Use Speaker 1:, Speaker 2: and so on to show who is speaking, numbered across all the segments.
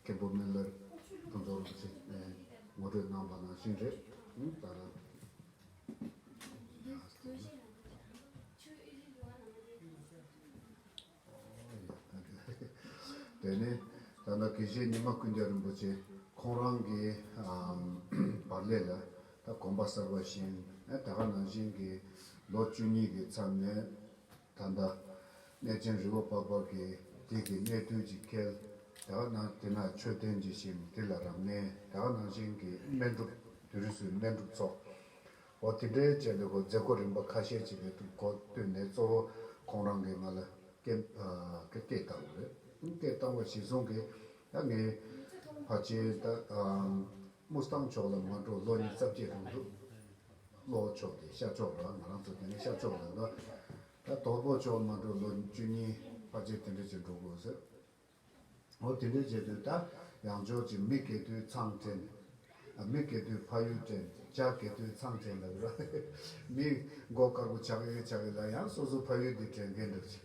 Speaker 1: མཁན་པོ་སྨན་བླའི་ཕུན་ཚོགས་རིན་པོ་ཆེ་ངོ་སྤྲོད་གནང་བ་ནང་བཞིན་རེད། དེ་ནས་ད་ལྟ་དགེ་བཤེས་ཉི་མ་ཀུན་བརྒྱ་རིན་པོ་ཆེ་ཁོང་རང་གི་པར་ལས་ལ་ད་གོམ་པ་གསར་བ་བཞིན་ད་ག་ནང་བཞིན་གྱི་ལོ་བཅུ་གཉིས་ཀྱི་མཚམས་ནས། ད་ལྟ། གནས་ཆེན་རི་བོ་སྤག་སྤག་གི་རྒྱལ་གྱི་གནས་བརྟུལ་གྱིས་བསྐལ། དག་སྣང་སྟེ་ན་མཆོད་རྟེན་གྱི་ཞིང་དེ་ལ་རབ་གནས་དག་སྣང་ཞིང་གི་སྨན་སྒྲུབ་དུས་རི་སུལ་སྨན་སྒྲུབ་ཚོགས། འོ་དེ་འདྲའི་བཅས་པའི་སྒོ་མཛད་སྒོ་རིམ་པ་ཁ་ཤས་ཅིག་རེད་འདུག་གོ་བཏོན་ནས་གཙོ་བོ་ཁོང་རང་གིས་ང་ལ་སྐད། སྐད་བཏང་བ་རེད། སྐད་བཏང་བ་གཞི་བཟུང་གིས་ད་ངའི་ཕ་ཆེན་ད། དམུ་སྟང་ཕྱོགས་ལ་མ་འགྲོ་ལོ་གཉིས་རྩ་བརྒྱད་རུ་འདུག་བློ་ཕྱོགས་ཏེ་ཤར་ཕྱོགས་ལ་ང་རང་ཚོ་དེ་ནས་ཤར་ཕྱོགས་ལ་འགྲོ། ད་དོག་པོ་ཕྱོགས་མ་འགྲོ་ལོ་བཅུ་གཉིས་ཕ་རྗེས་དེ་འདྲ་བྱེད་འགྲོ་དགོས་ཟེར། འོ་དེ་འདྲ་བྱེད་དུས་ད་ཡང་ཕྱོགས་ཀྱི་མི་གད་དུས་ཚང་དྲན། མི་གད་དུས་ཕ་ཡུལ་དྲན་བྱ་གད་དུས་ཚང་དྲན་ལབ་ར། མི་མགོ་དཀར་པོ་ཆགས་ཡོད་ཆགས་ཡོད་ལ་ཡང་སོ་སོ་ཕ་ཡུལ་དེ་དྲན་མཁན་འདུག་ཅིག།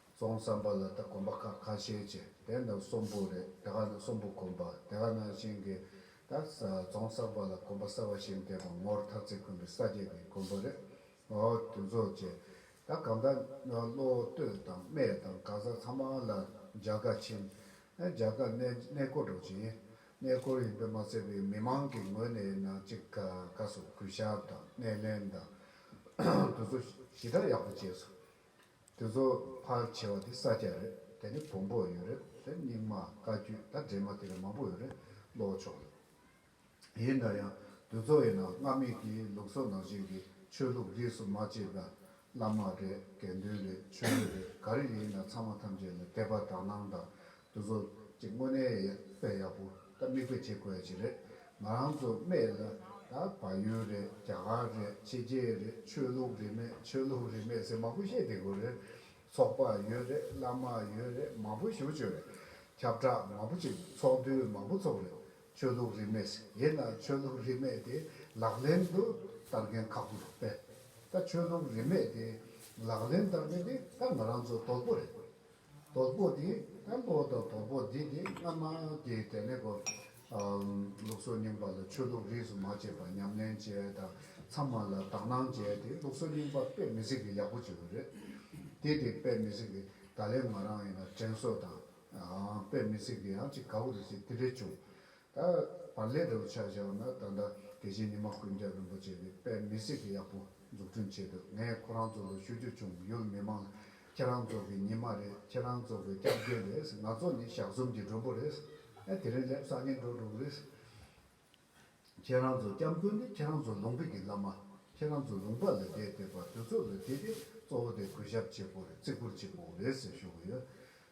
Speaker 1: རྫོང་བསམ་པ་ལ་ད་གོམ་པ་ཁ་ཁ་ཤས་བྱས་དེ་ནང་གསོན་པོ་རེད་དེ་ག་ནང་གསོན་པོ་གོམ་པ་དེ་ག་ནང་བཞིན་གྱི་ད་རྫོང་བསམ་པ་ལ་གོམ་པ་གསར་བ་བཞིན་དེ་གོང་ངོར་ཐག་ཚེ་ཁོན་པའི་ས་བརྒྱད་པའི་གོམ་པོ་རེད་ངོ་དུས་ཚོ་བྱས་ད་གམ་ད་བློ་གཏོད་དང་སྨད་དང་ག་ས་ཚང་མ་ལ་འཇག་དགའ་ཕྱིན་ཨེ་འཇག་དགའ་གནས་གནས་སྐོར་འགྲོ་བྱེད་ཡིན་གནས་སྐོར་ཡིན་པས་མ་ཚད་པའི་མི་མང་གི་ངོས་ནས་ནང་གཅིག་ག་ག་སོགས་གུས་ཞབས་དང་སྣེ་ལེན་དང་དུས་ཚོ་ཞི་དྲག་ཡག་པོ་བྱས་སོ། དེ་ཚོ་ཕར་བྱེ་བ་དེ་ས་སྐྱ་རེད་དེ་ནི་བོང་བུ་ཡོད་རེད་དེ་རྙིང་མ་བཀའ་བརྒྱུད་ད་འདྲེས་མ་དེ་རིགས་མང་པོ་ཡོད་རེད་བློ་བོ་ཆོག་ཡོད་ཡིན་འདྲ་ཡང་དེ་ཚོ་ཡིན་ན་སྔར་མེད་ཀྱི་ལུགས་སྲོལ་ནང་བཞིན་གྱི་ཆོས་ལུགས་རིས་སུ་མ་བཅད་པ་བླ་མ་རེད་དགེ་འདུན་རེད་ཆོས་རྒྱུད་རེད་ག་རེ་ཡིན་ན་ཚང་མ་ཐམས་ཅད་ལ་དད་པ་དག་སྣང་དང་དེ་ཚོ་གཅིག་དངོས་གནས་ཡག་དཔེ་ཡག་པོ་ད་མིག་དཔེ་བྱེད་དགོས་ཅི་རེད་ང་རང་ཚོ་སྨད་ལ་ད་བ་ཡོན་རེད་རྒྱ་གར་རེད་ཕྱི་རྒྱལ་རེད་ཆོས་ལུགས་རེད་མེད་ཆོས་ལུགས་རེད་མེད་ཟེར་མང་པོ་བཤད་བསྡད་དགོས་རེད་ཚོགས་པ་ཡོད་རེད་བླ་མ་ཡོད་རེད་མང་པོ་ཞུ་བཅོས་རེད་ཁྱབ་བསྒྲགས་མང་པོ་བྱེད་དགོས་ཚོགས་འདུ་མང་པོ་ཚོགས་རེད་ཆོས་ལུགས་རེད་མེད་ཟེར་དེས་ན་ཆོས་ལུགས་རེད་མེད་དེ་ལག་ལེན་དུ་བསྟར་མཁན་ཁག་པོ་རེད་པས་ད་ཆོས་ལུགས་རེད་མེད་དེ་ལག་ལེན་བསྟར་མཁན་དེ་ད་ང་རང་ཚོ་དོལ་པོ་རེད། དོག་པོ་འདི་སྐམ་པོ་དང་དོག་པོ་འདི་ནི་སྔ་མ་དེ་དེ་ནས་གོ། ལུགས་སྲོལ་རྙིང་པ་ལ་ཆོས་ལུགས་རིས་སུ་མ་ཆད་པར་ཉམས་ལེན་བྱས་དང་ཚང་མ་ལ་དག་སྣང་བྱས་ཏེ་ལུགས་སྲོལ་རྙིང་པ་དཔེ་མི་སྲིད་ཀྱི་ཡག་པོ་བྱེད་དགོས་རེད། དེ་དེ་དཔེ་མི་སྲིད་ཀྱི་ད་ལན་ང་རང་ཡིན་ན་དྲན་གསོ་དང་དཔེ་མི་སྲིད་ཀྱི་ཡང་ཅིག་ག་བུ་རེ་བྱས་དེ་འདྲས་བྱུང། ད་བར་ལས་དེ་ལ་ཆ་བཞག་ན་ད་ལྟ་དེ་བཞིན་ཉི་མ་ཀུན་མཁྱེན་རིན་པོ་ཆེ་ནས་དཔེ་མི་སྲིད་ཡག་པོ་འཛུགས་སྐྲུན་བྱེད་འདོད་ངས་ཁོ་རང་ཚོ་ལ་ཞུ་རྒྱུ་བྱུང་ཡུལ་མི་མང་ཁྱེད་རང་ཚོ་གི་ཉི་མ་རེད་ཁྱེད་རང་ཚོ་གི་སྐྱབས་མགོན་རེད་ང་ཚོ་ནི་ཞག་གསུམ་གྱི་མགྲོན་པོ་རེད་ཨ་དེ་རིང་སླེབས་སང་ཉིན་འགྲོ་འགྲོ་གི་རེད། ཁྱེད་རང་ཚོ་སྐྱབས་མགོན་ནི་ཁྱེད་རང་ཚོ་ལུང་པའི་གི་བླ་མ་ཁྱེད་རང་ཚོ་ལུང་པ་ལ་བསྡད་དེ་བར་དོའི་ཚོ་ལ་བསྡད་དེ་གཙོ་བོ་དེ་གུས་ཞབས་བྱེད་པོ་རེད་བརྩི་བཀུར་བྱེད་པོ་རེད་ཟེར་ཞུ་གི་ཡོད་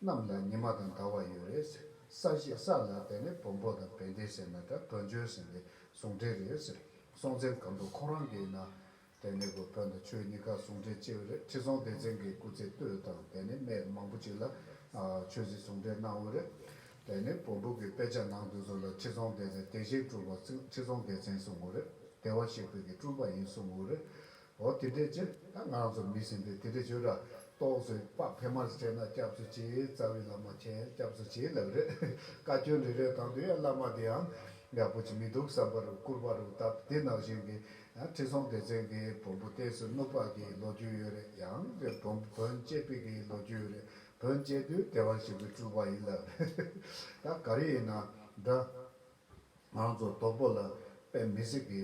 Speaker 1: རྣམས་ལ་ཉི་མ་དང་ཟླ་བ་ཡོད་རེད་ཟེར་ས་ཞིག་ས་ལ་དེ་ནི་བོན་པོ་དང་བན་དེ་ཟེར་ན་འདྲ་བོན་ཆོས་ཟེར་ནི་ཟུང་འབྲེལ་རེད་ཟེར་སོང་ཚེ་གམ་དུ་ཁོང་རང་གིས་ན་དེ་ནི་གོ་བོན་དང་ཆོས་གཉིས་ཀ་ཟུང་འབྲེལ་ཅེས་པ་རེད་ཁྲི་སྲོང་ལྡེ་བཙན་གྱི་སྐུ་ཚེ་སྟོད་དང་དེ་ནི་སྨད་མང་པོ་ཅིག་ལ་ཆོས་སྲིད་ཟུང་འབྲེལ་གནང་འོས་རེད་དེ་ནི་བོན་པོ་གི་དཔེ་ཆ་ནང་དུ་སོང་ལ་ཁྲི་སྲོང་ལྡེ་བཙན་དེ་བཞིན་སྤྲུལ་པ་ཁྲི་སྲོང་ལྡེ་བཙན་གསུང་ངོ་རེད་དེ་བ་ཞིག་བོད་ཀྱི་སྤྲུལ་པ་ཡིན་གསུང་འོས་རེད་འོ་དེ་འདྲའི་ཕྱིར་ད་ང་ཚོ་མི་གཞན་པས་དེ་འདྲའི་ཆོས་ར་གཏོགས་ཚོས་དཔག་ཕེབས་མར་བྱས་ན་སྐྱབས་སུ་མཆི་རྩ་བའི་བླ་མ་མཁྱེན་སྐྱབས་སུ་མཆི་ལབ་རེད་བཀའ་བཀྱོན་རེ་རེ་གང་དུ་ཡང་བླ་མ་དེའང་ཡག་པོ་ཅིག་མི་འདུག་བསམ་པར་བསྐུར་བ་རུ་སྟབས་དེ་ནང་བཞིན་གྱི་ཁྲི་སྲོང་ལྡེ་བཙན་གྱི་བོན་པོ་གཏད་སོ་གནུབས་པ་གྱི་ལོ་རྒྱུས་ཡོད་རེད་ཡང་དེ་བོན་བོན་སྤྱད་པི་གི་ལོ་རྒྱུས་ཡོད་རེད་བོན་སྤྱད་དུས་དེ་བ་ཞིག་གི་སྤྲུལ་བ་ཡིན་ལབ་རེད་ད་ག་རེ་ཡིན་ན་འདྲ། ང་རང་ཚོ་རྡོག་པོ་ལ་པའི་མི་སེར་གྱི་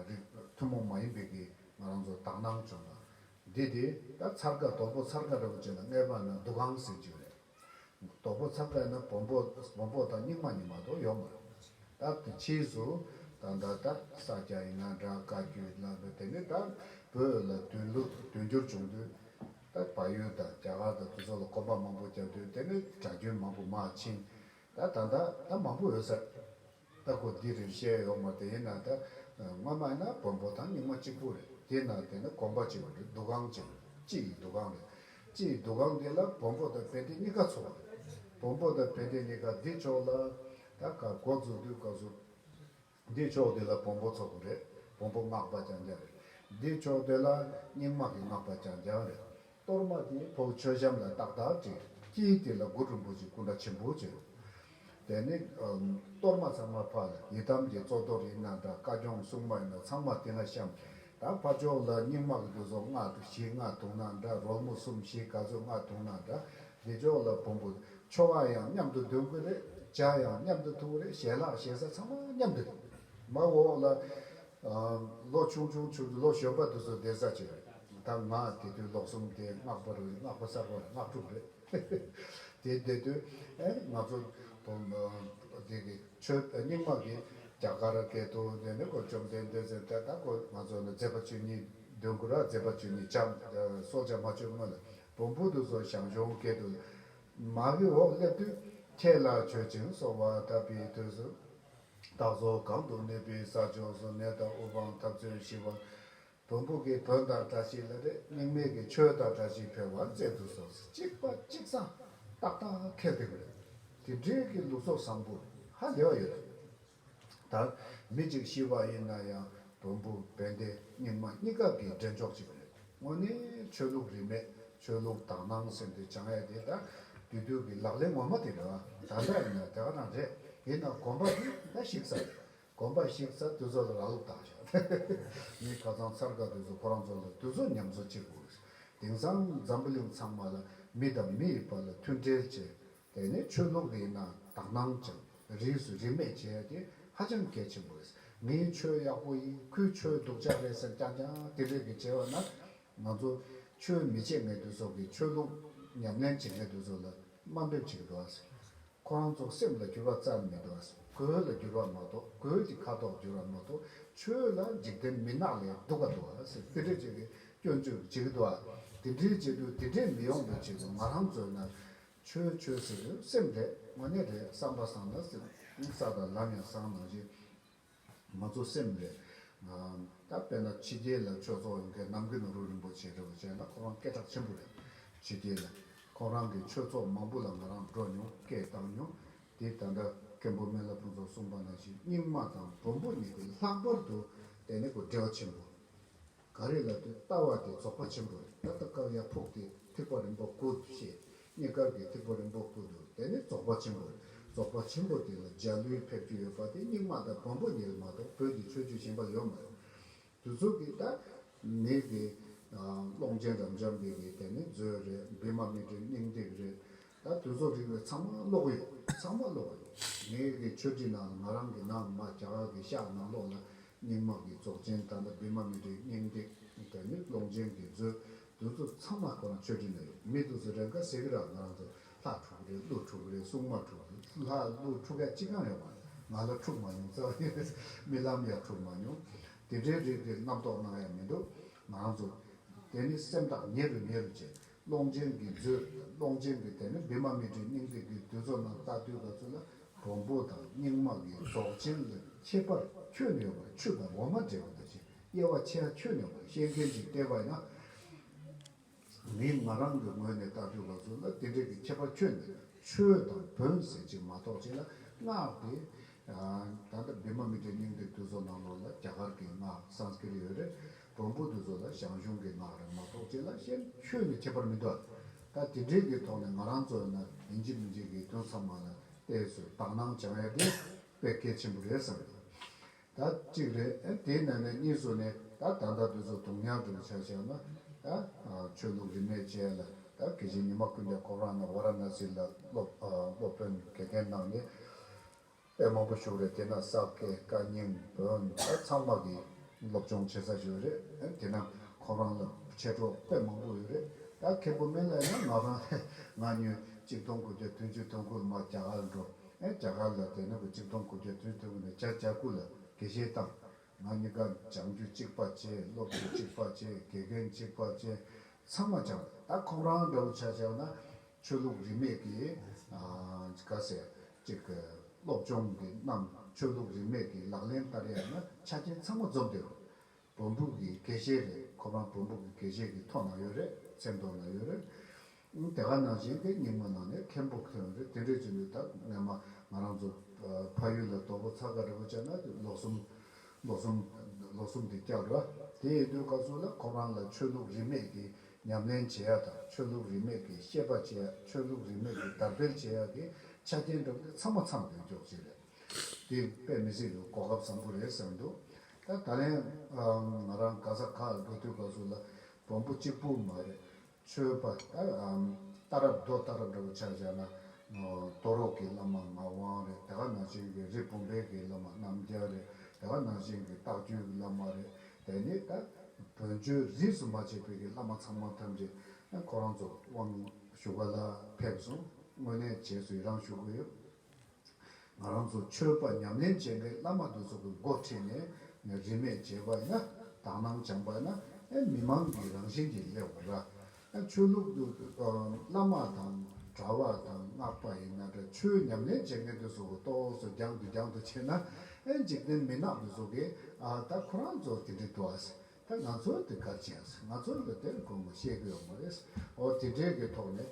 Speaker 1: རིགས་ཐུན་མོང་མ་ཡིན་པའི་གི་ང་རང་ཚོ་དག་སྣང་བྱུང་ལ། འདི་དེ་ད་ཚར་དཀའ་རྡོག་པོ་ཚར་དཀའ་ར་བུ་ཅན་ལ་བསྔལ་བ་ན་སྡུག་གང་ཟེར་རྒྱུ་རེད། རྡོག་པོ་ཚར་དཀའ་ན་བོང་བུ་བོང་བུ་དང་སྙིང་མ་ཉིད་མ་གཏོགས་ཡོག་མ་རེད། ད་ཕྱིས་སུ་ད་ད་ད་ད་ས་སྐྱ་ཡི་ང་འདྲ་དཀའ་རྒྱུ་ལ་བུ་དེ་ནི་ད་བོད་ལ་དུས་ལུགས་དུས་འགྱུར་བྱུང་དུས་ད་བལ་ཡུལ་དང་རྒྱ་གར་དང་དུས་ཚོད་ལ་གོམས་པ་མང་པོ་རྒྱབ་དུས་དེ་ནི་དྲ་རྒྱུན་མང་པོ་མ་ཕྱིན་ད་ད་ད་ད་མང་པོ་འོད་ཟེར་ལྟ་གོ་འདི་རིང་བཤད་ཡོང་མོ་དེ་ཡིན་ན་ད་སྔོན་མ་ཡིན་ན་བོན་པོ་དང་རྙིང་མ་གཅིག་པོ་རེད་དེ་ཡིན་ན་དེ་ནི་གོམ་པ་གཅིག་པོ་རེད་འདུ་ཁང་གཅིག་རེད་སྤྱི་ཡི་འདུ་ཁང་རེད་སྤྱི་ཡི་འདུ་ཁང་འདི་ལ་བོན་པོ་དང་བན་དེ་གཉིས་ཀ་འཚོ་བ་རེད་བོན་པོ་དང་བན་དེ་གཉིས་ཀ་འདི་ཕྱོགས་ལ་ད་གར་སྒོ་འཛུགས་དུས་སྐབས་སུ། འདིར་ཕྱོགས་དེ་ལ་བོང་བུ་ཚོགས་པ་རེད། བོང་བུ་སྔགས་པ་ཀྱང་བརྒྱ་རེད། འདིར་ཕྱོགས་དེ་ལ་སྙིང་དམག་གི་སྔགས་པ་ཀྱང་བརྒྱ་རེད། གཏོར་མ་དེའི་བུ་མཆོད་བཤམས་ལ་ཏག་ཏག་བྲི། དཀྱིལ་དེ་ལ་དགུ་རིན་པོ་ཆེའི་སྐུ་འདྲ་ཆེན་པོ་བྱོས། དེ་ནས། གཏོར་མ་ཚང་མ་ཕར་ལ་ཡི་དམ་གྱི་གཙོ་གཏོར་ཡིན་ན་འདྲ་བཀའ་སྐྱོང་སྲུང་མ་ཡིན་ན་ཚང་མ་དེ་ལ་བཤམས། ད་ཕར་ཕྱོགས་ལ་སྙིང་དམག་གི་རྒྱུ་ཚོགས་སྔགས་བཞི་སྔགས་དུང་ན་འདྲ་རོལ་མོ་གསུམ་བཞི་ག་ཚོད་སྔགས་དུང་ན་འདྲ། རྗེས་ཕྱོགས་ལ་བུམ་པོ། ཆོ་ག་ཡང་མཉམ་དུ་འདོན་དགོས་རེད། ལྗགས་ཡང་མཉམ་དུ་འཐུང་རེད་ཞལ་ལག་ཞལ་ཟ་ཚང་མ་མཉམ་དུ་རེད། མ་འོངས་ལ། ལོ་ཆུང་ཆུང་ཆུང་དུ་ལོ་གཞོན་པ་དུ་ཚོ་བསྡད་ས་ཅི་རེད། ད་ང་དེ་དུས་ལོ་གསུམ་དེ་སྔགས་པ་རུ་སྔགས་པ་གསར་པ་རུ་སྔགས་དྲུག་རེད། དེ་བསྡད་དུས། ང་ཚོ། དེ་གི་ཆོས་རྙིང་མ་གི་རྒྱ་གར་སྐད་དུ་འདོན་ནས་གོ་བཅོམ་ལྡན་འདས་ཟེར་ཐལ་ད་གོ་ང་ཚོ་ལ་མཛད་པ་བཅུ་གཉིས་འདོན་དགོས་ར་མཛད་པ་བཅུ་གཉིས་བྱམས་སོགས་བྱམས་མ་བཅོ་ལྔ་ལ་བོང་བུ་དུ་སོགས་ཞང་ཞུང་སྐད་དུ། མ་གི་འོག་སླེབས་དུས་ཁྱེད་ལ་མཆོད་ཅིང་གསོལ་བ་བཏབ་པའི་དུས་སུ། སྟག་ཟོ་གང་དུ་གནས་པའི་ས་ཕྱོགས་སུ་ནད་དང་དབུ་འཕང་འཐབ་རྩོད་ཞི་བར། བོང་བུ་གི་བོན་དང་བཀྲ་ཤིས་ལ་རེ་སྙིང་མེད་ཀྱི་ཆོས་དང་བཀྲ་ཤིས་འཕེལ་བར་མཛད་དུ་གསོལ། གཅིག་པ་གཅིག་བཟང་སྟག་དང་ཁལ་སྟེགས་རེད། དེ་འདྲའི་གི་ལུགས་སོགས་བཟང་པོ་ཧ་ལས་བ་ཡོད་རེད། དང། མི་གཅིག་ཤི་བ་ཡིན་ན་ཡང་དུམ་བུ་བན་དེ་རྙིང་མ་གཉིས་ཀ་གི་འབྲེལ་འཇོག་ཅིག་རེད། དངོས་གནས་ཆོས་ལུགས་རིས་མེད་ཆོས་ལུགས་དག་སྣང་སེམས་དེ་བྱང་ཡས་དེ་ད་དུས་དུས་ཀྱི་ལག་ལེན་ངོ་མ་དེ་རེད་བ། ད་འདྲ་ཡིན་ན་དེ་ག་རང་རེད་ཡིན་ན་གོམ་པ་དེ་ད་བཤིག་ས་རེད་གོམ་པ་བཤིག་ས་དུས་ཚོད་ལ་རག་ལུགས་དག་བྱ་ངས་ཁ་ཚང་ཚར་དགའ་དུས་ཚོད་ཁོ་རང་ཚོ་ལ་དུས་ཚོད་ཉམས་གསོ་བྱེད་དགོས། དེང་སང་འཛམ་བུ་གླིང་ཚང་མ་ལ་མི་དང་མི་ཡི་བར་ལ་མཐུན་འབྲེལ་བཅས་དེ་ནི་ཆོས་ལུགས་ཡིན་ན་དག་སྣང་ཅན་རིས་སུ་རིས་མེད་བྱས་ཏེ་ཧ་ཅང་གལ་ཆེན་པོ་རེད་ངའི་ཆོས་ཡག་པོ་ཡིན་ཁོའི་ཆོས་སྡུག་ཅག་རེད་ཟེར་རྐྱང་རྐྱང་དེ་རིགས་ཀྱི་བྱེད་པ་ན་ང་ཚོ་ཆོས་མི་བྱེད་མཁན་དེ་ཚོ་གིས་ཆོས་ལུགས་ཉམས་ལེན་བྱེད་མཁན་དེ་ཚོ་ལ་དམའ་འབེབས་བྱེད་འགྲོ་བ་ཁོ་རང་ཚོ་སེམས་ལ་འགྱུར་བ་བརྩམས་མི་འགྲོ་གོས་ལ་འགྱུར་བ་མ་གཏོགས་གོས་ཀྱི་ཁ་དོག་འགྱུར་བ་མ་གཏོགས་ཆོས་ལ་འཇིག་རྟེན་མི་ནག་ལས་སྡུག་ག་འགྲོ་བ་ཟེར་དེ་འདྲས་བྱེད་ཀྱི་སྐྱོན་བརྗོད་བྱེད་ཀྱི་འགྲོ་བ་དེ་འདྲས་བྱེད་དུས་དེ་འདྲས་མི་ཡོང་པའི་ཆེད་དུ་ང་རང་ཚོས་ན་ཆོས་ཆོས་ཟེར་དུས་སེམས་དེ་དངོས་གནས་རེད་བསམ་པ་བཟང་ན་སེམས་བཟང་དང་ལམ་ཡང་བཟང་ན་རེད། ང་ཚོ་སེམས་རེད། ད་དཔེར་ན་ཕྱི་རྒྱལ་ལ་ཆོས་ཚོགས་ཡོང་མཁན་ནམ་གུ་ནོར་བུ་རིན་པོ་ཆེ་རེད་བ་བྱས་ན་ཁོ་རང་སྐད་གྲགས་ཆེན་པོ་རེད། ཕྱི་རྒྱལ་ལ་ཁོང་རང་གི་ཆོས་ཚོགས་མང་པོ་ལ་ང་རང་འགྲོ་མྱོང་སྐད་བཏང་མྱོང། དེ་ད་ལྟ་མཁན་པོ་སྨན་བླ་ཕུན་ཚོགས་གསུངས་པ་ནང་བཞིན་རྙིང་མ་དང་བོན་པོ་གཉིས་ཀྱི་ལྷག་པར་དུ་དེ་ནི་གོ་འབྲེལ་བ་ཆེན་པོ། ག་རེ་ལ་དུས་ལྟ་བ་དེ་རྫོགས་པ་ཆེན་པོ་རེད་ད་ལྟ་སྐབས་ཡར་ཕུག་དེ་ཐིག་པ་རིམ་པ་དགུ་འདུག་བཤད་རྙེད་སྐབས་ཀྱི་ཐིག་པ་རིམ་པ་དགུ་འདུག་དེ་ནི་རྫོགས་པ་ཆེན་པོ་རེད་རྫོགས་པ་ཆེན་པོ་དེ་ལ་འཇའ་ལུས་ཕེབས་རྒྱུ་ཡོད་པ་དེ་རྙིང་མ་དང་བམ་པོ་འདི་ལ་མ་གཏོགས་བོད་ཀྱི་ཆོས་བརྒྱུད་གཞན་པ་ཡོད་མ་རེད། དུས་ཚོད་ཀྱིས་ད་ནིར་གྱི། ཀློང་ཆེན་རབ་འབྱམས་འདི་གྱིས་དེ་ནི་མཛོད་རེད་བི་མ་མི་ཏྲའི་སྙིང་ཏིག་རེད། ད་དོལ་ཚོགས་རིག་པའི་ཚང་མ་ཀློག་གི་ཡོད་ཚང་མ་ཀློག་གི་ཡོད་ངའི་གི་ཆོས་ཁྲིད་ནང་ལ་ང་རང་གི་ནང་མ་རྒྱ་གར་གི་ཤག་ནང་ལོག་ལ་རྙིང་མ་གི་རྫོགས་ཆེན་ད་ནི་བི་མ་མི་ཏྲའི་སྙིང་ཏིག་དེ་ནི་ཀློང་ཆེན་གི་མཛོད་དོལ་ཚོ་ཚང་མ་ཁོ་རང་ཆོས་ཁྲིད་ནང་ཡོད་མི་འདུག་ཟེར་རན་ཁ་ཟེར་གི་ར་ང་རང་ཚོ་ལྷ་འཁྲུག་གི་རེད་ཀླུ་འཁྲུག་གི་རེད་སྲུང་མ་འཁྲུག་གི་རེད་ལྷ་ཀླུ་འཁྲུག་ཡ་ཅི་གང་ཡོད་མ་རེད་ང་ལ་འཁྲུག་མ་མྱོང་རྩ་བ་ནས་རྨི་ལམ་ཡ་འཁྲུག་མ་མྱོང་དེ་འདྲའི་རིགས་ཀི་རྣམ་རྟོག་སྣང་ཡ་མི་འདུག་ང་རང་ཚོ་དེ་ནི་སེམས་ཐག་ཉེ་རུ་ཉེ་རུ་བྱས། ཀློང་ཆེན་གྱི་མཛོད། ཀློང་ཆེན་གྱི་དེ་ནི་བི་མ་མི་ཏྲའི་སྙིང་ཐིག་གི་དུས་ཚོགས་ནང་རྟ་ཐུལ་ག་ཚོད་ལ་བོང་བུ་དང་སྙིང་དམག་གི་རྫོགས་ཆེན་ལ་ཁྱད་པར་ཁྱོད་ནུས་པ་ཆུ་དང་འོ་མ་འདྲེས་པ་དང་བཞིན་དབྱེ་བ་ཕྱེ་ཡང་ཁྱོད་ནུས་པ་ཤེས་མཁན་གྱི་ལྟས་པ་ཡང་མིན་ང་རང་གི་ངོས་ནས་རྟ་ཐུལ་ག་ཚོད་ལ་དེ་འདྲས་ཀྱི་ཁྱད་པར་ཁྱོད་ནི་ཆོས་དང་བོན་ཟེར་གྱི་མ་གཏོགས་ཅི་ལ་བསྔགས་ཏེ། ད་ལྟ་བི་མ་མི་ཏྲའི་སྙིང་ཐིག་དུས་ཚོགས་ནང་ལོགས་ལ་རྒྱ་གར་གྱི་སྔགས Sanskrit ཡོད་རེད། གྲོང་པོ་དེ་ཚོ་ལ་ཞང་ཞུང་གི་ངག་རིང་མ་གཏོགས་ཅི་ལ་ཤེས། ཆོས་ནི་ཁྱད་པར་མི་འདུག་ད་དེ་འབྲེལ་གྱི་ཐོག་ནས་ང་རང་ཚོ་ཡིན་ན་ཡིན་འཇིག་མི་འཇིག་གི་དོན་ཚང་མ་ལ་བལྟས་ཚོས་དག་སྣང་བྱང་ཡ་དེ་དཔེ་གལ་ཆེན་པོ་རེད་བསམ་ཡོད། ད་གཅིག་རེད་དེ་ན་ནས་གཉིས་སུ་ནས་ད་ད་ལྟ་དེ་ཚོ་དུང་ཉག་དྲུག་ཆགས་ཆགས་ན་ད་ཆོས་ལུགས་རིས་མེད་བྱས་ལ་ད་གལ་ཆེན་ཉི་མ་ཀུན་ཏའི་ཁོབ་རང་ན་བ་ར་ན་སི་ལ་སློབ་དཔོན་གལ་ལྡན་གནང་ནས། དཔེ་མང་པོ་བཞུགས་རེད་དེ་ན་ས་སྐལ་བཀའ་རྙིང་བོན་ད་ཚང་མ་གི་སློབ་སྦྱོང་བྱེད་ས་ཞིག་རེད་དེ་ན་ཁོང་རང་ལ་མཆེད་གྲོགས་དཔེ་མང་པོ་ཡོད་རེད་ད་མཁན་པོ་མེད་ལ་ཡིན་ན་ང་རང་ལས་ང་ཉོས་གཅིག་སྟོང་དགུ་བརྒྱ་དོན་བཅུ་སྟོང་ཁུལ་མ་རྒྱ་གར་འགྲོ་རྒྱ་གར་ལ་དེ་ན་གི་གཅིག་སྟོང་དགུ་བརྒྱ་དོན་སྟོན་གི་ན་བྱ་བྱ་ཁུལ་ལ་དགེ་བཤེས་དང་ང་ནི་སྐར་སྦྱང་རྒྱུ་གཅིག་པ་བྱེད་སློབ་རྒྱུ་གཅིག་པ་བྱེད་དགེ་རྒན་གཅིག་པ་བྱེད་ཚང་མ་སྦྱང། ད་ཁོང་རང་འདྲ་བོ་ཆ་བྱས་ན་ཆོས་ལུགས་རིས་མེད་ཀྱི་ག་ཟེ་ཅིག་སློབ་སྦྱོང་གི་རྣམས་ཆོས་ལུགས་རིས་མེད་ཀྱི་ལག་ལེན་བསྟར་ཡག་ན་ཆ་རྐྱེན་ཚང་མ་འཛོམས་དེ་རེད། བོན་པོ་གི་དགེ་བཤེས་རེད་ཁོང་རང་བོན་པོ་གི་དགེ་བཤེས་ཀྱི་ཐོག་ན་ཡོད་རེད་ཚེ་མདོ་ན་ཡོད་རེད། དེ་ག་ནང་བཞིན་དེ་སྙིང་མོ་ནང་ནས་ཁེམ་པོ་ཁེམ་རེད་དེ་འདྲས་ཀྱི་འདུག་ད་སྔ་མ་ང་རང་ཚོ་ཕ་ཡུལ་ལ་དོག་པོ་ཚ་ག་རེ་བོ་བྱས་ན་ལོག་སུམ། ལོག་སུམ། ལོག་སུམ་དེ་བསྐྱབས་ར་དེ་ཡིན་དུས་སྐབས་སུ་ལ་ཁོ་རང་ལ་ཆོས་ལུགས་རིས་མེད་ཀྱི་ཉམས་ལེན་བྱེད་ཡག་དང་ཆོས་ལུགས་རིས་མེད་ཀྱི་ཤེས་པ་བྱེད་ཡག་ཆོས་ལུགས་རིས་མེད་ཀྱི་དར་སྤེལ་བྱེད་ཡག་གི་ཆ་རྐྱེན་བསྒྲུབས་ཏེ་ཚང་མ་མཚམས་རེ་འཇོག་བྱེད་རེད་དེ་དཔེ་མི་སྲིད་ལུགས་གོ་སྐབས་བཟང་པོ་རེད་བསམ་འདུག་ད་ད་ལན་ང་རང་ག་ས་ག་ལ་འགྲོ་དུས་སྐབས་སུ་ལ་བོང་བུ་གཅིག་པུ་མ་རེད་མཆོད་པ་ལྟར་རབ་རྡོ་ལྟར་རབ་འདྲ་བོ་ཕྱག་བྱ་ན། གཏོར་རོགས་ཀྱི་བླ་མ་ངག་དབང་རེད་དེ་ཁ་ནག་ཅན་གྱི་རི་བུམ་པའི་གྱི་བླ་མ་རྣམ་རྒྱལ་རེད་དེ་ཁ་ནག་ཅན་གྱི་རྟགས་བརྒྱུད་གྱི་བླ་མ་རེད་དེ་ནི་ད་བོན་ཆོས་གཟིགས་སུ་མ་བྱས་པའི་གྱི་བླ་མ་ཚང་མ་ཐམས་ཅད་ཁོ་རང་ཚོ་དབང་བཞུགས་པ་ལ་ཕེབས་སོང་དངོས་གནས་བྱས་སུ་ཡི་རང་ཞུ་གི་ཡོད། ང་རང་ཚོ་ཆོས་པ་ཉམས་ལེན་བྱེད་མཁན་བླ་མ་དེ་ཚོ་གི་མགོ་ཁྲིད་ནས་རིས་མེད་བྱེད་པ་ཡིན་ན་དག་སྣང་སྦྱང་པ་ཡིན་ན་མི་མང་གི་རང་བཞིན་གྱི་སླེབས་པ་འདྲ། ཆོས་ལུགས་དུ་བླ་མ་དང་གྲྭ་བ་དང་སྔགས་པ་ཡིན་ན་འདྲ་ཆོས་ཉམས་ལེན་བྱེད་མཁན་དེ་ཚོ་གི་ལྟོ་ཚོ་རྒྱང་དུ་རྒྱང་དུ་ཕྱིན་ན་འཇིག་རྟེན་མི་ནག་དེ་ཚོ་གི་ད་ཁོ་རང་ཚོ་དེ་འདྲའི་འགྲོ་ཨ་ད་ང་ཚོ་དེ་གར་ཕྱིན་ང་ཚོ་ལ་དེར་དགོས་མཁོ་ཤེས་གི་ཡོད་མ་རེད་ཨོ་དེ་འདྲའི་གི་ཐོག་ནས་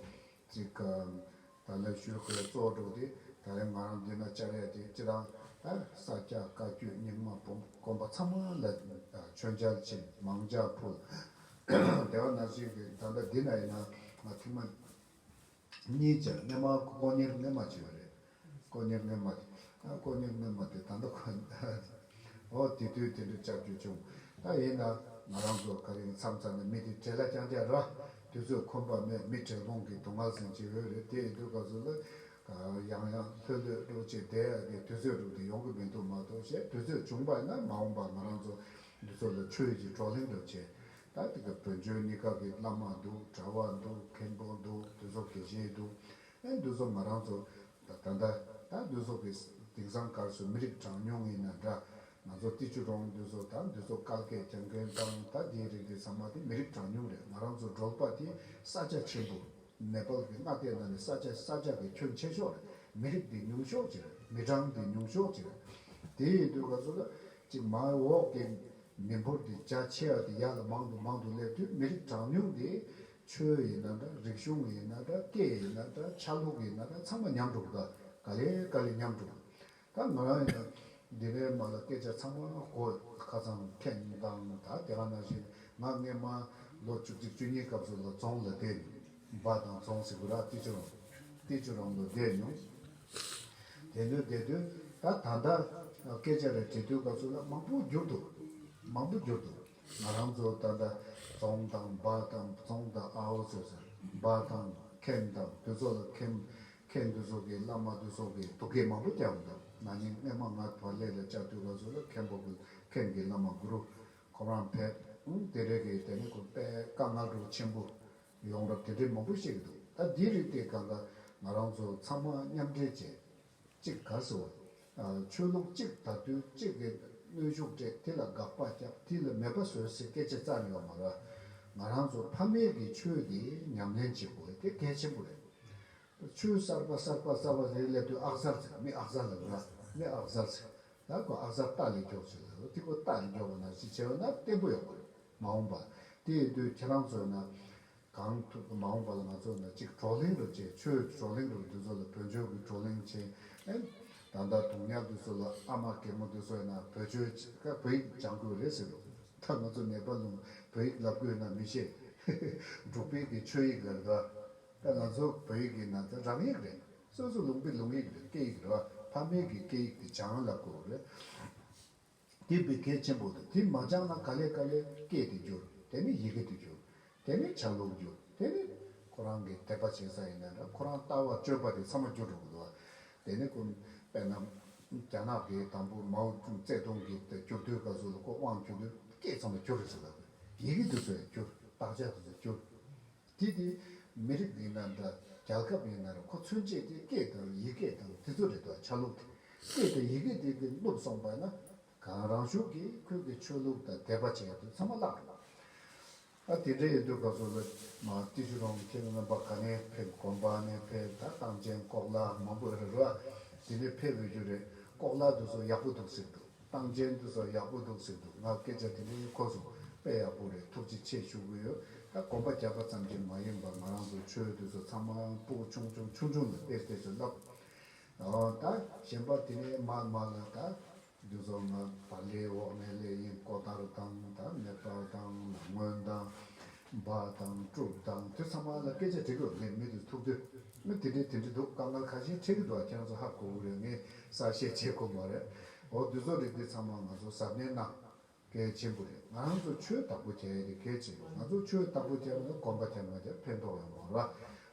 Speaker 1: ཅིག་གམ། ད་ལེབ་ཤོད་ཁོའི་གཙོ་བོ་འགྲོགས་ཏེ་ད་རེས་ང་རང་འདི་ན་བཅར་ཡས་དེ་ཅི་དང། ས་སྐྱ་བཀའ་བརྒྱུད་རྙིང་མ་བུམ་དཀོན་པ་ཚང་མ་ལ་མཆོད་མཇལ་ཆེ་མང་འཇགས་ཕུལ། དེ་བ་ན་ཅིག་གི་ད་ལྟ་འདི་ན་ཡིན་ན་ང་ཐེངས་མ་གཉིས་ཅར་གནས་མ་སྐོང་གཉེར་གནས་མ་བྱས་པ་རེད། དཀོན་གཉེར་རྔན་པ། དཀོན་གཉེར་རྔན་པ་དེ་ད་ལྟ་ཁོ། ཨོ། དེ་དུས་དེ་འདྲ་ལྕགས་ཀྱུ་བྱུང། ད་ཡིན་ན། ང་རང་ཚོ་ག་རེ་མཚམས་ཚར་ནས་མི་དེ་གྲལ་ལ་རྐྱང་རྐྱང་རག། དུས་ཚོད་ཁོམ་པ་མེད་མི་གྲལ་གོང་གི་དུ་ངར་ཟིང་ཅི་འོས་རེད་དེ་ཡིན་དུས་སྐབས་སུ་ལ། ཡང་ཡང་ལྷོད་ལྷོད་སྒྲོག་ཅིག་དེ་ཡག་གི་དུས་ཚོད་སྒྲུབ་དེ་ཡོང་གི་མི་འདུག་མ་གཏོགས་ཞེས་དུས་ཚོད་བྱུང་པ་ཡིན་ན་མ་འོངས་པ་ང་རང་ཚོ་འདི་ཚོ་ལ་ཆོས་ཀྱི་བགྲོ་གླེང་འགྲོ་ཆེད། ད་ལྟ་གི་བོན་ཆོས་གཉིས་ཀ་གི་བླ་མ་འདུག་གྲྭ་བ་འདུག་མཁན་པོ་འདུག་དེ་ཚོ་དགེ་བཤེས་འདུག་ཨེ་འདུས་ཚོགས་མ་རང་ཚོགས། ད་ལྟ། ད་འདུས་ཚོགས་ཀྱི། དེང་སང་སྐར་ཚོད་མི་རིགས་གྲངས་ཉུང་ངེས་ན་འདྲ། ང་ཚོ་ཏི་ཆུ་གྲོང་འདུས་ཚོགས་ད་འདུས་ཚོགས་སྐལ་སྐད་སྦྱང་མཁན་དང་ད་དེའི་རིགས་རེད་ཚང་མ་དེ་མི་རིགས་གྲངས་ཉུང་རེད་ང་རང་ཚོ་འབྲོག་པ་དེ་ས་ཆ་ཆེན་པོ། ནེ་པལ་གྱི་མངའ་སྡེ་ནང་ནས་ས་ཆ་ས་ཆ་གི་ཁྱོན་ཆེ་ཤོག་རེད་མི་རིགས་དེ་ཉུང་ཤོག་ཅིག་རེད་མི་གྲངས་དེ་ཉུང་ཤོག་ཅིག་རེད། དེ་ཡི་དུས་ག་ཚོད་ལ། ཅིག་མ་འོག་གི། མི་འབོར་དེ་རྒྱ་ཆེ་བ་དེ་ཡར་ལ་མང་དུ་མང་དུ་སླེབས་དུས་མི་རིགས་གྲངས་ཉུང་དེ། ཆོས་ཡིན་ན་འདྲ་རིག་གཞུང་ཡིན་ན་འདྲ་སྐད་ཡིན་ན་འདྲ་ཆ་ལུགས་ཡིན་ན་འདྲ་ཚང་མ་ཉམས་གྲུབ་དང་ག་ལེ་ག་ལེ་ཉམས་གྲུབ། ད་ང་རང་ཡིན་ན་འདི་འདྲའི་མ་ལ་སྐད་ཆ་ཚང་མ་གོ་ཁ་ཚང་མཁྱེན་དང་ད་དེ་ག་ན་བཞིན་ང་སྔེ་མ་ལོ་བཅུ་གཅིག་བཅུ་གཉིས་སྐབས་སུ་ལ་རྫོང་ལ་བསྡད་མྱོང་འབའ་ཐང་རྫོང་སི་གུ་ར་ཏི་ཅུ་རོང་ཏི་ཅུ་རོང་ལ་བསྡད་མྱོང། དེ་འདྲ་བསྡད་དུས་ད་ད་ལྟ་སྐད་ཆ་རེ་དྲི་དུས་སྐབས་སུ་ལ་མང་པོ་བསྒྱུར་འདུག་མང་པོ་བསྒྱུར་འདུག་ང་རང་ཚོ་ད་ལྟ་རྫོང་དང་འབའ་དང་རྫོང་དང་ཨའོ་ཟེར་ཟེར་འབའ་དང་མཁན་དང་འདུས་ཚོགས་ལ་མཁན་མཁན་འདུས་ཚོགས་ཀྱིས་བླ་མ་འདུས་ཚོགས་ཀྱིས་ཐུགས་འགན་མང་པོ་རྒྱག་གི་འདུག་ན་ནིང་སྔས་མ་ང་བར་ལས་ལ་བཅར་དུས་ག་ཚོད་ལ་མཁན་པོ་གི་མཁན་གྱི་བླ་མ་གུ་རུ་ཁོང་རང་ཕེབས་དེ་རེས་ཀྱིས་དེ་ནས་གོ་པས་བཀའ་མངགས་སྒྲུབ་ཆེན་པོ་ཡོང་རབས་དེ་འདྲའི་མང་པོ་བཤད་ཀྱི་འདུག་ད་འདིའི་རིགས་དེ་ག་འགའ་ང་རང་ཚོ་ཚང་མ་མཉམ་འབྲེལ་བྱས་གཅིག་དགའ་སོ། ཆོས་ལུགས་གཅིག་དར་དུས་གཅིག་གིས་གནོད་ཤུགས་སྤྲད་དེ་ལ་དགག་པ་བརྒྱབ་དེ་ལ་མེད་པ་བཟོས་ཟེར་སྐད་ཆ་རྩར་ཡོད་མ་རེད། ང་རང་ཚོ་ཕ་མེས་ཀྱི་ཆོས་དེ་ཉམས་ལེན་བྱེད་དགོས་དེ་གལ་ཆེན་པོ་རེད། ཆོས་གསར་པ་གསར་པ་རྩ་བ་རེ་སླེབས་དུས་ཨག་གསར་ཟེར་མི་ཨག་གསར་ལ་ལ་མི་ཨག་གསར་ཟེར་ད་ཁོ་ཨག་གསར་སྟག་ལས་མགྱོགས་ཟེར་ལ་ལ་ཏི་ཁོ་སྟག་ལས་མགྱོགས་པ་ན་ཅིག་བྱས་པ་ན་བརྟན་པོ་ཡོང་པ་རེད་མ་འོངས་པ་དེ་ཡོད་དུས་ཁྱེད་རང་ཚོས་ན་གང་ཐུབ་མ་འོངས་པ་ལ་ང་ཚོ་ནི་གཅིག་བགྲོ་གླེང་རུ་བྱེད་ཆོས་ཀྱི་བགྲོ་གླེང་རུ་འདི་ཚོ་ལ་བོད་ཆོས་ཀྱི་བགྲོ་གླེང་བྱེད་ཨེ། ད་ལྟ་དུང་ཉག་འདི་ཚོ་ལ་ཨ་མ་གད་མོ་འདི་ཚོ་ཡིན་ན་བོད་ཆོས་ཀྱི་བོད་ཡིག་སྦྱང་དགོས་རེད་ཟེར་རོ། ད་ང་ཚོ་ནེ་པ་ལུང་བོད་ཡིག་ལབ་དགོས་ཡོད་ན་མི་ཤེས། འབྲུག་པའི་གི་ཆོས་ཡིག་ལ་རེད་བ། ད་ང་ཚོ་བོད་ཡིག་ཡིན་ན་ད་རང་ཡིག་རེད། སོ་སོ་ལུང་པའི་ལུང་ཡིག་རེད་སྐད་ཡིག་རེད་བ། ཕ་མེས་གི་སྐད་ཡིག་དེ་སྦྱང་ལབ་དགོས་རེད། དེ་བི་གེ་ཆེན་པོ་དང་དེ་མ་སྦྱངས་ན་ག་ལེ་ག་ལེ་སྐད་དུ་འགྱུར་དེ་ནི་ཡི་གེ་དུ་འགྱུར་དེ་ནི་བྱ་ལུགས་འགྱུར་དེ་ནི། ཁོ་རང་གི་དད་པ་བྱེད་ས་ཡིན་ན་འདྲ་ཁོ་རང་ལྟ་བ་སྤྱོད་པ་དེ་ཚང་མ་འགྱུར་འགྲོ་གི་འདུག་དེ་ནི་ཁོ་དཔེར་ན། རྒྱ་ནག་གི་དང་པོ་མའོ་ཙུང་ཙེ་ཏུང་གི་དེ་བསྐྱུར་དུས་སྐབས་སུ་ལ་ཀོ་དབང་བསྐྱུར་དུས་སྐད་ཚང་མ་འགྱུར་རེད་ཟེར་ལབ་ཡི་གེ་དུ་ཚོད་འགྱུར་དག་ཆ་དུ་ཚོད་འགྱུར། དེ་དུས་མི་རིགས་འདི་ནང་དུ་རྒྱལ་ཁབ་ཡོད་ན་རུང་ཁོ་ཚུན་ཆད་ཀྱི་སྐད་དང་ཡི་གེ་དང་དེ་ཚོ་རེད་དོ་ཆ་ལུགས་དེ་སྐད་དང་ཡི་གེ་དེ་དེ་བསླུབས་སོང་པ་ན་གང་རང་གཞུག་གིས་ཁོན་གི་ཆོས་ལུགས་དང་དད་པ་བྱས་དུས་ཚང་མ་བརླག་འགྲོ་བ་རེད། དེ་འདྲ་ཡིན་དུས་ཁོ་ཚོ་ལ་མ་ཏི་ཤུ་རོང་གི་ཁྱེད་ལ་རྣམ་པ་ག་ནས་ཕེབས་དགོན་པ་ནས་ཕེབས་ད་སྟངས་ཅན་ལྐོག་ལག་མང་པོ་ཨེ་རེད་རོ་ཨ་དེ་ནས་ཕེབས་ཡོད་རྒྱུ་རེད་ལྐོག་ལག་དེ་ཚོ་ཡག་པོ་འདུག་ཟེར་འདུག། བཏང་རྗེས་འདི་ཚོ་ཡག་པོ་འདུག་ཟེར་འདུག་ང་སྐད་ཆ་དེ་འདྲའི་ཁོ་ཚོ་དཔེ་ཡག་པོ་རེད་ཐུགས་རྗེ་ཆེ་ཞུ་གི་ཡོད་ད་གོམ་པ་རྒྱག་པ་ཙམ་གྱིས་མ་ཡིན་པར་ང་རང་ཚོ་ཆོས་དེ་ཚོ་ཚང་མ་པུའུ་ཆུང་ཆུང་ཆུང་ཆུང་ལ་དཔེ་དེ་ཚོ་བསླབ་འོང་ད་གཞན་པ་དེ་འདྲའི་མར་མར་ལ་ད་འདི་ཚོ་ང་བར་ལེའི་འོག་ནས་ལས་ཡིན་ལྐོག་ལྟ་རུ་བཏང་ད་མེད་པར་བཏང་ལ་སྔོན་བཏང་འབའ་དང་སྤྲུགས་དང་དེ་ཚང་མ་ལ་སྐད་ཆ་དྲི་རོ་ལེན་མི་འདུག་ཐུག་དོན་མི་དེ་འདྲའི་དེ་འདྲའི་འདུག་དཀའ་ངལ་ཁ་ཞེ་འཁྲེག་གི་འདུག་ཨ་ཁྱང་ཚོ་ཧ་གོ་གི་རེད་ངས་གསར་བཤད་བྱེད་དགོས་མ་རེད་འོ་དུས་ཚོ་རེད་འདི་ཚང་མ་ང་ཚོ་གཟབ་ནན་གནང། གལ་ཆེན་པོ་རེད་ང་རང་ཚོ་ཆོས་བདག་པོ་བྱ་ཡ་རེད་གལ་ཆེན་པོ་ང་ཚོ་ཆོས་བདག་པོ་བྱ་བ་ལ་གོམ་པ་ཐལ་མོ་བརྒྱབ་ཕན་ཐོག་ཡོང་མོད་ར་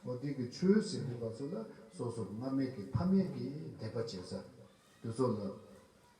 Speaker 1: འོ་འདི་གི་ཆོས་ཟེར་གི་བ་ཚོ་ལ་སོ་སོར་སྔ་མེད་ཀི་ཕ་མེད་ཀི་དད་པ་བྱེད་ས་དུས་ཚོ་ལ།